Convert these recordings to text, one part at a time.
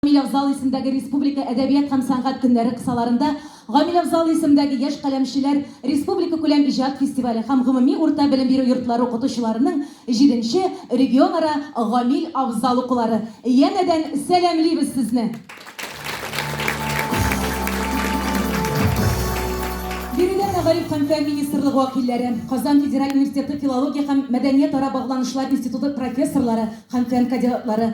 Гамиләфзал исемдәге республика әдәбият һәм сәнгать көннәре кысаларында Гамиләфзал исемдәге яшь каләмчеләр республикакүләм иҗат фестивале һәм гомуми урта белем бирү йортлары укытучыларының җиденче регионара Гамил Афзал укулары. Янәдән сәламлибез сезне! Биредә мәгариф һәм фән министрлыгы вәкилләре, Казан федераль университеты филология һәм мәдәниятара багланышлар институты профессорлары һәм фән кадеатлары,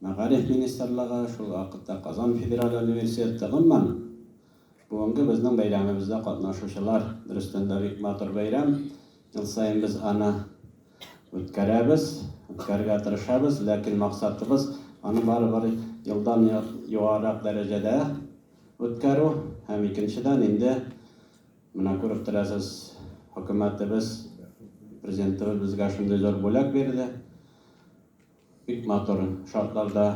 Мәгариф министрлыгы, шул вакытта Казан федераль университеты, гомумән, бүгенге безнең бәйрәмебездә катнашучылар, дөрестән дә, бик матур бәйрәм. Ел саен без аны үткәрәбез, үткәрергә тырышабыз, ләкин максатыбыз, аны барыбер елдан югарырак дәрәҗәдә үткәрү. Һәм, икенчедән, инде менә күреп торасыз, хөкүмәтебез, Президентыбыз безгә шундый зур бүләк бирде. Бик матур шартларда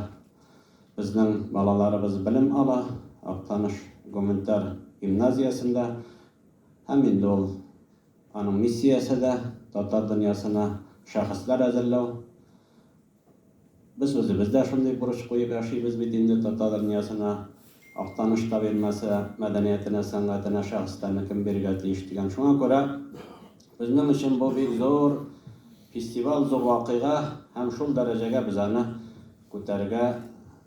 безнең балаларыбыз белем ала, Актаныш гуманитар гимназиясендә. Һәм инде ул, аның миссиясе дә, татар дөньясына шәхесләр әзерләү. Без үзебез дә шундый бурыч куеп яшибез бит инде, татар дөньясына, Актаныш табигмәсе мәдәниятенә, сәнгатенә шәхесләрне кем бирергә тиеш дигән. Шуңа күрә Безнең өчен бу бик зур фестиваль, зур вакыйга һәм шул дәрәҗәгә без аны күтәрергә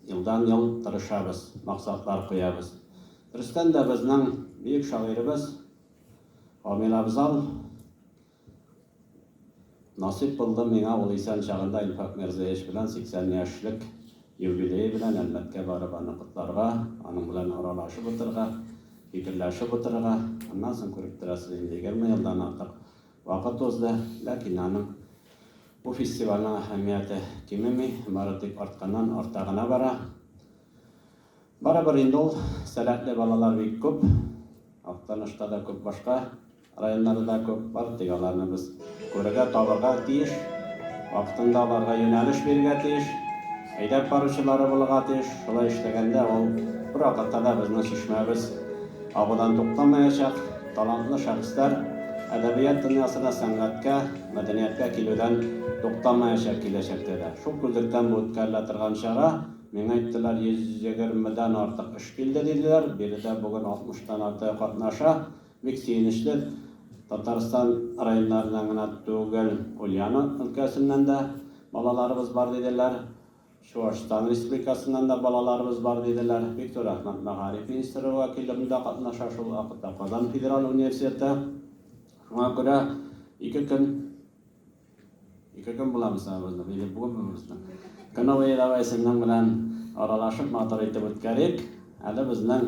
елдан-ел тырышабыз, максатлар куябыз. Дөрестән дә безнең бөек шагыйребез Рамил Абзал Насыйп булды миңа ул исән чагында Илфак Мирзаевич белән 80 яшьлек Юбилее белән Әлмәткә барып аны котларга, аның белән аралашып утырырга, фикерләшеп утырырга, аннан соң, күреп торасыз, инде егерме елдан артык вакыт узды, ләкин аның бу фестивальнең әһәмияте кимеми, бары тик артканнан арта гына бара. Барыбер инде ул сәләтле балалар бик күп, Актанышта да күп башка Районнары да күп бар, тик аларны без күрергә, табырга тиеш. Вакытында аларга юнәлеш бирергә тиеш. Әйдәп баручылары булырга тиеш. Шулай эшләгәндә ул бервакытта да безнең чишмәбез агудан туктамаячак. Талантлы шәхесләр әдәбият дөньясына, сәнгатькә, мәдәнияткә килүдән туктамаячак киләчәктә дә. Шул күзлектән бу үткәрелә торган чара. Миңа әйттеләр, 120 дән артык эш килде, диделәр. Биредә бүген 60 тан артыгы катнаша. Бик сөенечле, Татарстан районнарыннан гына түгел, Ульяно өлкәсеннән дә балаларыбыз бар, диделәр. Чуашстан Республикасыннан да балаларыбыз бар, диделәр. Бик зур рәхмәт, мәгариф министрлыгы вәкиле монда катнаша, шул ук вакытта Казан федераль университеты. Шуңа күрә ике көн, ике көн була мисалыбызның, или бүген бөбебезнең көне буе давай сезнең белән аралашып матур итеп үткәрик. Әле безнең.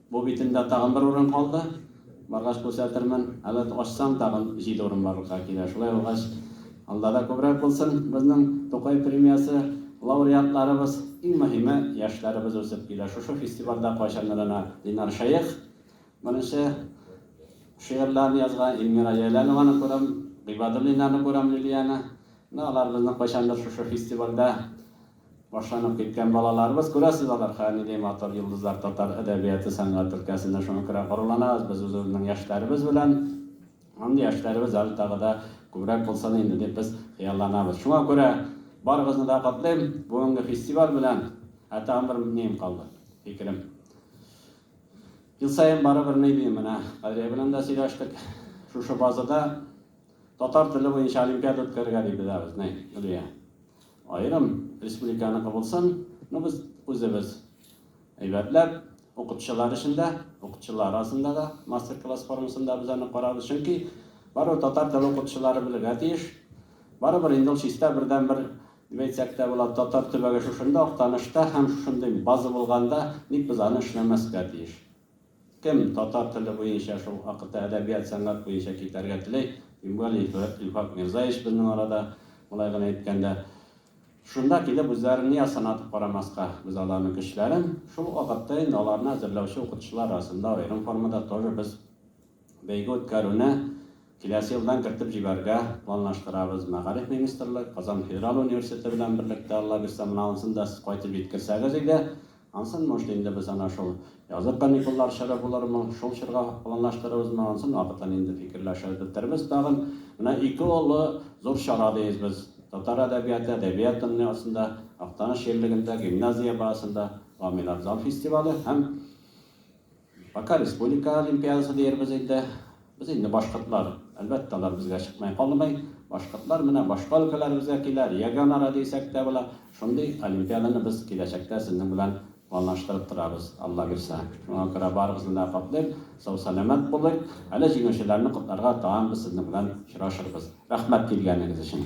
Бу битемдә тагын бер урын калды. Баргач күрсәтермен. Әле ачсам, тагын җиде урын барлыкка килә. Шулай булгач, алда да күбрәк булсын. Безнең Тукай премиясе лауреатларыбыз, иң мөһиме, яшьләребез үсеп килә. Шушы фестивальдә кайчандыр гына Динар Шәех беренче шигырьләрен язган, Илмира Җәләлованы күрәм, Гыйбадуллиннарны күрәм, Лилияне. Менә алар безне кайчандыр шушы фестивальдә Башланып киткән балаларыбыз, күрәсез, алар хәер нидәй матур йолдызлар, татар әдәбияты, сәнгать өлкәсендә. Шуңа күрә горурланабыз без үзебезнең яшьләребез белән. Мондый яшьләребез әле тагы да күбрәк булсын инде дип без хыялланабыз. Шуңа күрә барыгызны да котлыйм бүгенге фестиваль белән. Ә тагын бер неем калды, фикерем. Ел саен барыбер ни дим, менә Кадрия белән дә сөйләштек, шушы базада татар теле буенча олимпиада үткәрергә дип бетәбез, ни, Гөлия. Аерым республиканыкы булсын, ну без үзебез әйбәтләп, укытучылар өчен дә, укытучылар арасында да мастер-класс формасында без аны карарбыз, чөнки барыбер татар теле укытучылары белергә тиеш. Барыбер инде ул чиста бердәнбер дип әйтсәк тә була, татар төбәге шушында, Актанышта һәм шушындый база булганда ник без аны эшләмәскә тиеш? Кем татар теле буенча, шул акыта әдәбият, сәнгать буенча китәргә теләй, тем более Илфак Мирзаевич безнең арада, болай гына әйткәндә, шунда килеп үзләрен ни астына атып карамаска? Без аларның көчләрен, шул вакытта инде аларны әзерләүче укытучылар арасында аерым формада тоже без бәйге үткәрүне киләсе елдан кертеп җибәрергә планлаштырабыз. Мәгариф министрлыгы, Казан федераль университеты белән берлектә, Аллабирса, моны ансын да сез кайтып җиткерсәгез иде. Ансын, может, инде без ана шул язгы каникуллар чоры булырмы, шул чорга планлаштырырбызмы, ансын вакытын инде фикерләшә бетербез тагын. Менә ике олы зур чара диез без. Татар әдәбияты, әдәбият дөньясында, Актаныш җирлегендә, гимназия базасында Гамиләр зал фестивале һәм Пока республика олимпиадасы диербез инде. Без инде башкортлар, әлбәттә, алар безгә чыкмый калмый. Башкортлар менә башка өлкәләребезгә килә, регионара дисәк тә була. Шундый олимпиаданы без киләчәктә сезнең белән планлаштырып торабыз, Алла бирсә. Шуңа күрә барыгызны да котлыйм, сау-сәламәт булыйк. Әле җиңүчеләрне котларга тагын без сезнең белән очрашырбыз. Рәхмәт килгәнегез өчен.